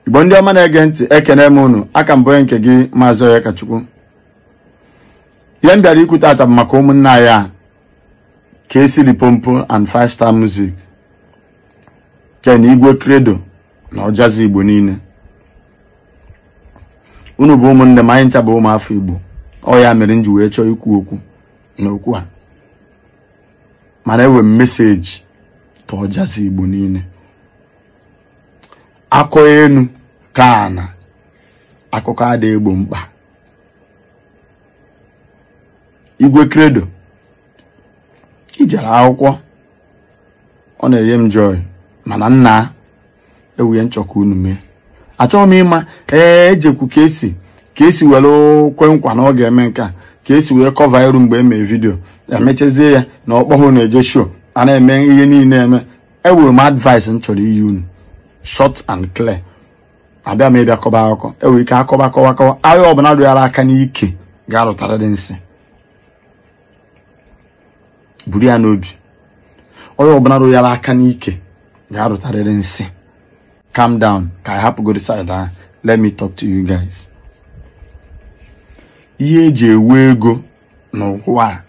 igbo ndị ọma na-ege ntị ekene m unu a ka m bụ nke gị maazị Onyekachukwu ihe m bịara ikwu tata bụ maka ụmụnne anyị a Kcee Limpopo and five star music ken Igwe Credo na Ojazzy igbo niile unu bụ ụmụnne m anyị ncha bụ ụmụafọ igbo ọ ya mere m ji wee chọọ ikwu okwu n'okwu a mana enwe m message to Ojazzy igbo niile akọ enu kọ ana akụkọ ada egbo mkpa Igwe Credo i jere akwụkwọ ọ na-enye m joy mana nna enwe ihe m chọ ka unu mee achọghị m ịma ee ejekwu Kcee Kcee were kwe nkwa na ọ ga-eme nke a Kcee wee kọva iru mgbe e mee vidio emechazie ya na ọ kpọhụ unu eje show a na-eme ihe niile eme enwere m advice m chọrọ inye unu short and clear abịa m ịbịa kọba akụkọ enwere ike akọba kọwa kọwa onye ọbụla rụnyara aka n'ike ga-arụtarịrị nsị buru ya n'obi onye ọbụla rụnyara aka n'ike ga-arụtarịrị nsị calm down ka anyị hapụgodu side ahụ let me talk to you guys ihe eji enwe ego n'ụwa a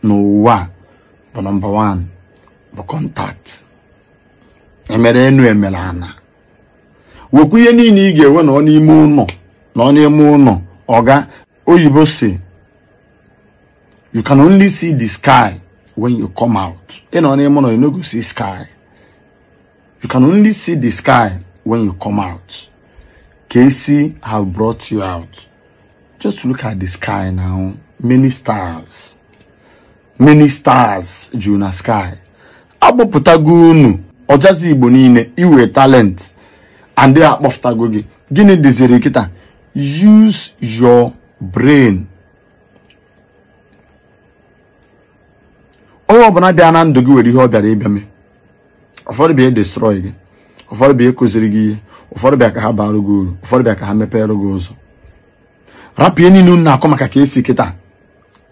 n'ụwa bụ number one bụ contact emere enu emere ana nwekwa ihe niile ị ga-enwe nọ n'ime ụlọ nọ n'ime ụlọ ọga oyibo sị you can only see the sky when you come out ị nọ n'ime ụlọ you no go see sky you can only see the sky when you come out Kcee have brought you out just look at the sky now many stars many stars juru na sky akpọpụtago unu Ojazzy igbo niile i nwe talent and akpọpụtago gị gịnị dịziri kịta use your brain onye ọbụla bịa na ndụ gị were ihe ọ bịara ịbịa mee ụfọdụ bịa destroy gị ụfọdụ bịa kụziri gị ihe ụfọdụ bịa ka ha baara gị uru ụfọdụ bịa ka ha mepere gị ụzọ rapụ ihe niile unu na-akọ maka Kcee kịta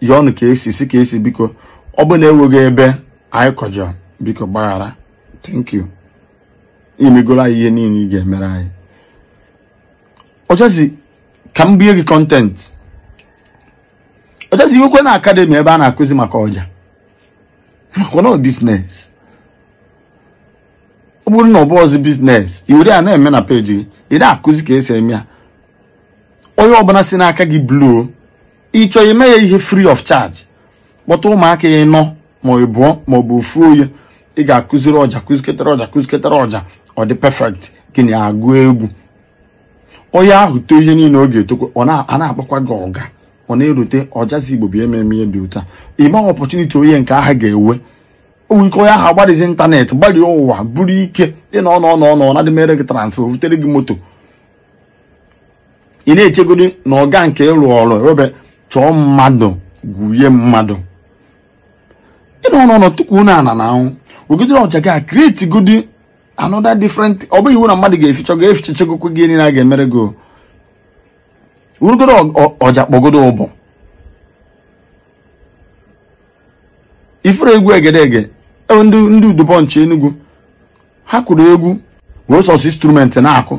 yọọnụ Kcee sị Kcee biko ọ bụ na enwego ebe anyị kọjọ biko gbaghara thank you i megoro anyị ihe niile ị ga-emere anyị Ojazzy ka m bie gị content Ojazzy i nwe ike nwee an academy ebe a na-akụzi maka ọja makwa na business ọ bụrụ na ọ bụọzi business iwere ya na-eme na page gị ị na-akụzi ka esi eme ya onye ọbụla si n'aka gị bluo ịchọ ime ya ihe free of charge kpọta ụmụaka ịnọ ma ịbụọ ma ọ bụ ofu onye ị ga-akụziri ọja kụziketara ọja kụziketara ọja ọ dị perfect gị na ya agụ egwu onye ahụ too ihe niile ọ ga-etokwa ọ na-akpọkwa gị ọga ọ na-erute Ojazzy Igbo bụ ememe ihe dị ụta ịma opportunity onye nke ahụ ga-ewe onwere ike onye ahụ agbadizi internet gbarie ụwa bụrụ ike ịnọ ọnọ ọnọ ọnọ ndị mere gị transfer butere gị moto ị na-echegodi na ọga nke ịrụ ọrụ ewebe chọọ mmadụ gwuye mmadụ ịnọ ọnọ ọnọ tukwuo n'ana n'anwụ wegidere ọja gị a create godi another different ọ bụghị iwu na mmadụ ga-eficha ga efichachagokwe gị niile a ga-emere gị werụgodo ọja kpọgodo ụbọ ị fụrụ egwu egedege e, ndị Udubunch Enugu ha kụrụ egwu were sọsọ instrument na-akụ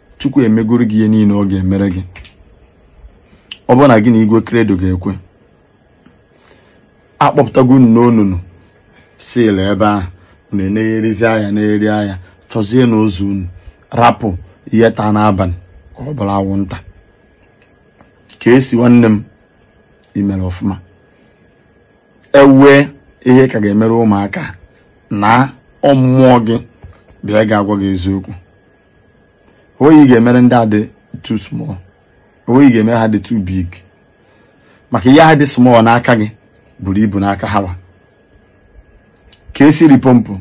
chukwu emegoro gị ihe niile ọ ga-emere gị ọ bụrụ na gị na Igwe Credo ga-ekwe akpọpụtago unu n'onunu si na ebe ahụ unu na-egherizi anya na-egheri anya chọzienụ ụzọ unu rapụ ihe taa n'abalị ka ọ bụrụ anwụnta Kcee nwanne m imere ọfụma enwee ihe ka ga-emere ụmụaka na ọ mmụọ gị bụ ya ga-agwa gị eziokwu onweghị ị ga-emere ndị a dị too small onweghị ị ga-emere ha dị too big maka ihe ha dị small n'aka gị buru ibu n'aka ha wa Kcee Limpopo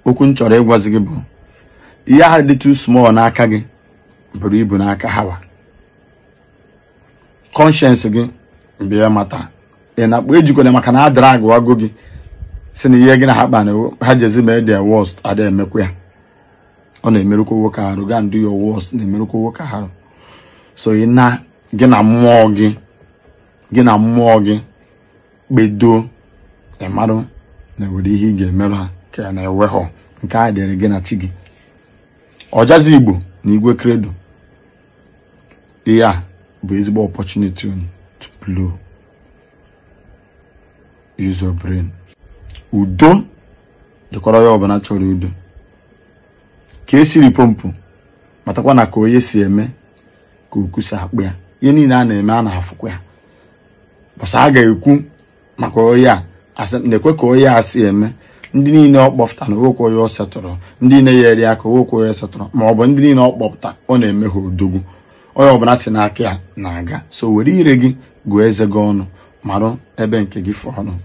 okwu m chọrọ ịgwazi gị bụ ihe ahụ dị too small n'aka gị buru ibu n'aka ha wa conscience gị bụ ya mata ị na-akpa ejikwana maka na a dragụwago gị sị na ihe gị na ha kpa na ha jezi mee their worst ada emekwa ya ọ na-emerụkwa nwoke arụ go and do your worst na-emerụkwa nwoke arụ so ị na gị na mmụọ gị gị na mmụọ gị kpedo ịmarụ na enwere ihe ị ga-emerụ ha ka ọ na enweghọ nke a dịrị gị na chi gị Ojazzy Igbo na Igwe Credo ihe a bụ ezigbo opportunity unu to blow use your brain udo dịkwara onye ọbụla chọrọ udo Kcee Limpopo matakwa na ka onye si eme ka okwu si akpụ ya ihe niile a na-eme a na-afụkwa ya mbọsị a ga-ekwu maka onye a na-ekwu ka onye a si eme ndị niile ọ kpọpụta na onwekwe onye ọ setụrụ ndị niile o yeere aka onwekwe onye setụrụ ma ọ bụ ndị niile ọ kpọpụta ọ na-eme ha odogwu onye ọbụla si n'aka ya na-aga so were ire gị gụọ eze gị ọnụ marụ ebe nke gị fọrọ